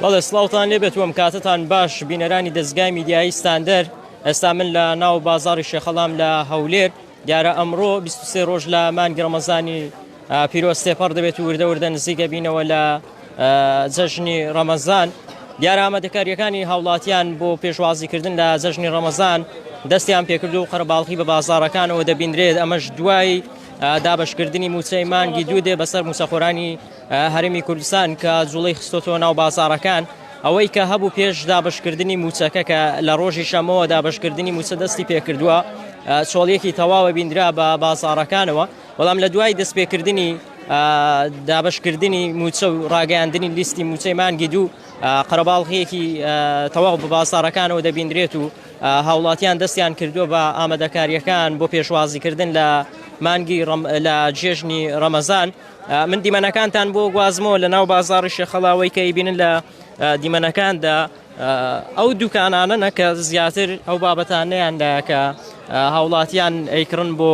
بەڵێ سلااوان لێبێت وم کاتتان باش بینەرانی دەستگای میدیایی ستاندەر ئێستا من لە ناو بازاری شێخەڵام لە هەولێر دیارە ئەمڕۆ 23 ڕۆژ لە مانگرەمەزانی پیرۆستێپەڕ دەبێت وردە وردە نزیکە بینەوە لە جەژنی ڕەمەزان دیارە ئامادەکارییەکانی هاوڵاتیان بۆ پێشوازیکردن لە جەژنی ڕەمەزان دەستیان پێکرد و قەرەباڵخی بە بازارەکانەوە دەبیندرێت ئەمەش دوای دابشکردنی موچەی مانگی دوو دێ بەسەر موسەخۆرانی هەرمی کوردستان کە جوڵی خستۆتەوە ناو بازارەکان ئەوەی کە هەبوو پێش دابشکردنی موچەکە کە لە ڕۆژی شەمەوە دابشکردنی موچە دەستی پێکردووە چۆڵیەکی تەواوە بیندرا بە بازارەکانەوە بەڵام لە دوای دەستپێکردنی دابشکردنی موچە و ڕاگەاندنی لیستی موچەی مانگی دوو قەرەباڵغیەکی تەواو بە بازارەکانەوە دەبیندرێت و هاوڵاتیان دەستیان کردووە بە ئامادەکاریەکان بۆ پێشوازیکردن لە مانگی لە جێژنی ڕەمەزان من دیمەنەکانتان بۆ گوازمەوە لە ناو بازاری شێخەڵاوەی کە ئیبینن لە دیمەنەکاندا ئەو دوکانانەنە کە زیاتر ئەو بابەتانیان لە کە هاوڵاتیان ئەیکڕن بۆ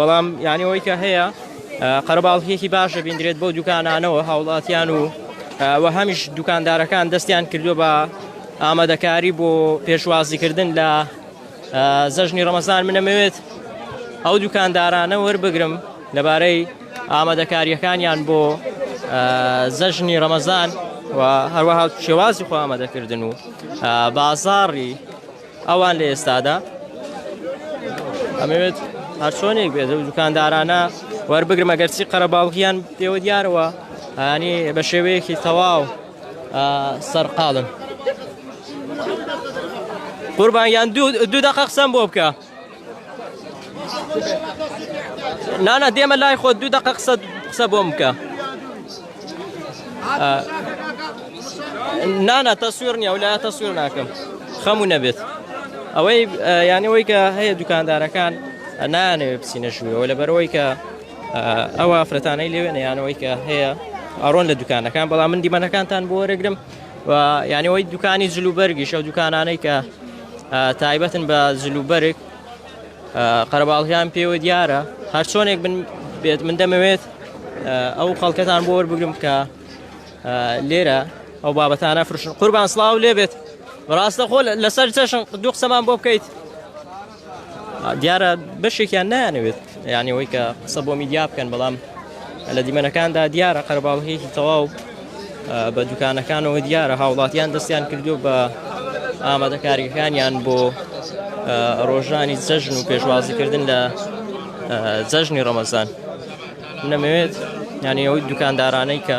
بەڵام یانی ئەوەی کە هەیە قەرەباڵکیەکی باش دەبیندرێت بۆ دوکانانەوە هاوڵاتیان و وە هەمیش دوکاندارەکان دەستیان کردووە بە ئامادەکاری بۆ پێشوازیکردن لە زەژنی ڕەمەزان منەمەوێت ئەو دوکاندارانە وەربگرم لەبارەی ئامادەکاریەکانیان بۆ زەژنی ڕەمەزان و هەروەها شێوازی خۆ ئامادەکردن و بازاڕی ئەوان لە ئێستادا ئەمەوێت هەرچۆنێک بێت و دوکاندارانە وەربگرمە گەرچی قەرەباڵغیان پێوە دیارەوە هەنی بە شێوەیەکی تەواو سەرقاڵن قوربان یان دوو دەقە قسەم بۆ بکە نانا دێمە لای خۆ دوو دقە قسە قسە بۆم بکە نانا تەسوێر نیە و لا تەسوێر ناکەم خەمو نەبێت ئەوەی یانەوەی کە هەیە دوکاندارەکان نانەوێ بچینە ژوورەوە لە بەرەوەی کە ئەوە ئافرەتانەی لەوێ نەیانەوەی کە هەیە ئارۆن لە دوکانەکان بەڵام من دیمەنەکانتان بۆ وەرەگرم و یانیەوەی دوکانی جلوبەرگیش ئەو دوکانانەی کە تایبەتن بە جلوبەرگ قەرەباڵیان پێوە دیارە هەر چۆنێک من بێت من دەمەوێت ئەو خەڵکەتان بۆ وەربگرم کە لێرە ئەو بابەتانە فرشن قوربان سلااو لێبێت ڕاستە خۆ لەسەر چەشن دوو قسەمان بۆ بکەیت دیارە بەشێکیان نایانەوێت یانی ئەوەی کە قسە بۆ میدیا بکەن بەڵام لە دیمەنەکاندا دیارە قەرباڵغیەکی تەواو بە دوکانەکانەوە دیارە هاوڵاتیان دەستیان کردو بە ئامادەکاریەکانیان بۆ ڕۆژانی جەژن و پێشوازیکردن لە جەژنی ڕەمەزان نەمەوێت یانی ئەوەی دوکاندارانەی کە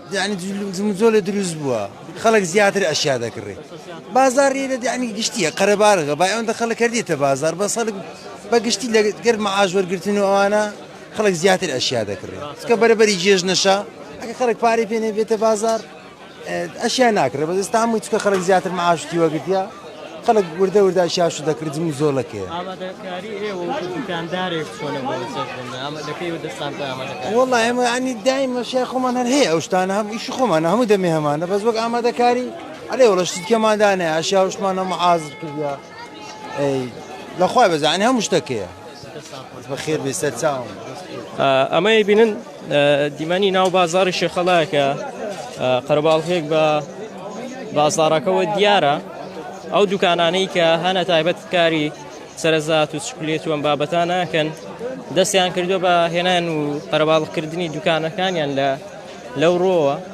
یانی جموجۆلێ دروست بوە خەڵک زیاتر ئەشیا دەکڕێ بازار ێرە دیانی گشتیە قەرەبارغە با ئەوەندە خەڵک کردێتە بازار بە سەڵک بە گشتی لە گەر مەعاش وەرگتن و ئەوانە خەڵک زیاتر ئەشیا دەکڕێ کە بەرەبەری جێژ نەشە ئەگە خەڵک پارەی پێنێ بێتە بازار ئەشیا ناکرێ بەدەستامووی چکە خەڵک زیاتر مەعاشتی وەگرتە خەڵک وردە وردە شاشو دەکردن و زۆر لەکێ. ئامادەکاری ئێوە وەکو دوکاندارێک چۆنە بۆ چەشن ئامە لە کەیوە دەستان پێ ئامادەکاری؟ وەڵا ئێمە یانی دایم ئەشیای خۆمان هەر هەیە ئەو شتانە هەم ئیشی خۆمانە هەموو دەمێ هەمانە بەس وەک ئامادەکاری ئەرێ وەڵا شتی دیکەمان دا نەیە ئەشیا شتمان هەموو حازر کردوە ئەی لە خوای بەزان یانی هەموو شتەک هەیە. دەستتان خۆش بەخێر بێی سەرچاوم. ئەمەی بینن دیمەنی ناو بازاری شێخەڵاکە قەرەباڵغێک بە بازارەکەەوە دیارە ئەو دوکانانەی کە هەنە تایبەت کاری سەرزات و چکلێت وەم بابەتانەکەن دەستیان کردو بە هێنان و قەرەباڵکردنی دوکانەکانیان لە لەو ڕۆوە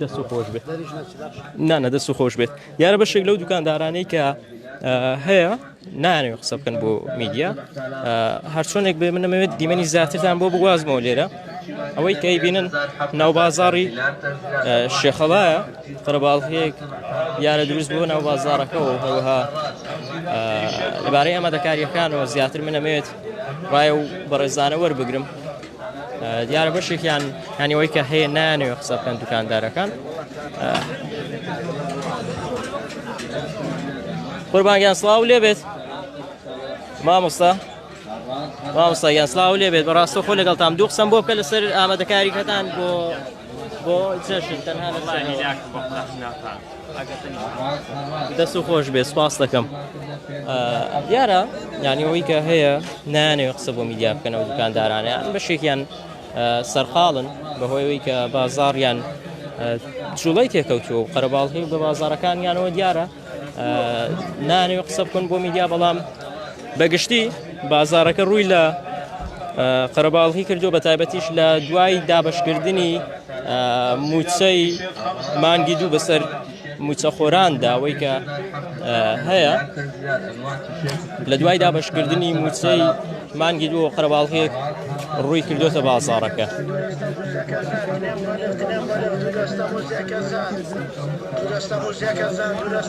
دەست و خۆش بێت نانە دەست و خۆش بێت دیارە بەشێک لەو دوکاندارانەی کە هەیە نانەوە قسە بکەن بۆ میدیا هەرچۆنێک بێ منەمەوێت دیمەنی زیاترتان بۆ بگوازمەوە لێرە ئەوەی کەی بینن ناو بازاری شێخەڵایە قەرەباڵهەیەک یارە دروست بۆ ناو بازارەکەەوە هەوەها لەبارەی ئەمە دەکاریەکانەوە زیاتر منەمەوێت ڕایە و بەڕێزانە وەربگرم دیارە بەشێکیان هەنیەوەی کە هەیە نانەوە قسە بکەن دوکاندارەکان قوربانگیان سلااو لێ بێت مامۆستا مامۆستا یاسلااو لێ بێت بەڕاستە خۆ لەگەڵ تام دوو قسم بۆ بکە لەسەر ئامادەکاریکەتان بۆ دەست و خۆش بێ سپاس دەکەم دیارە یانیەوەی کە هەیە نانێ قسە بۆ میدیا بکەنەوە دوکاندارانە بەشێکیان سەرقاڵن بەهۆیەوەی کە بازاڕیان جوڵی تێکەوتووە و قەرەباڵهی بە بازارەکانیانەوە دیارە نانەوێت قسە بکەن بۆ میدیا بەڵام بەگشتی بازارەکە ڕووی لە قەرەباڵی کردو بە تایبەتیش لە دوای دابشکردنی موچەی مانگی دوو بەسەر موچەخۆران داوەی کە هەیە لە دوای دابشکردنی موچەی مانگی دوو قەرەباڵغییەک ڕووی کردووەتە بازاڕەکە.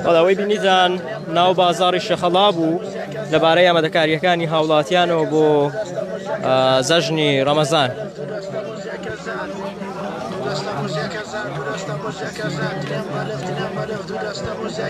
بەڵەوەی بینیدان ناو بازاڕی شەخەڵا بوو لەبارەی ئامادەکاریەکانی هاوڵاتیانەوە بۆ زەژنی ڕەمەزان.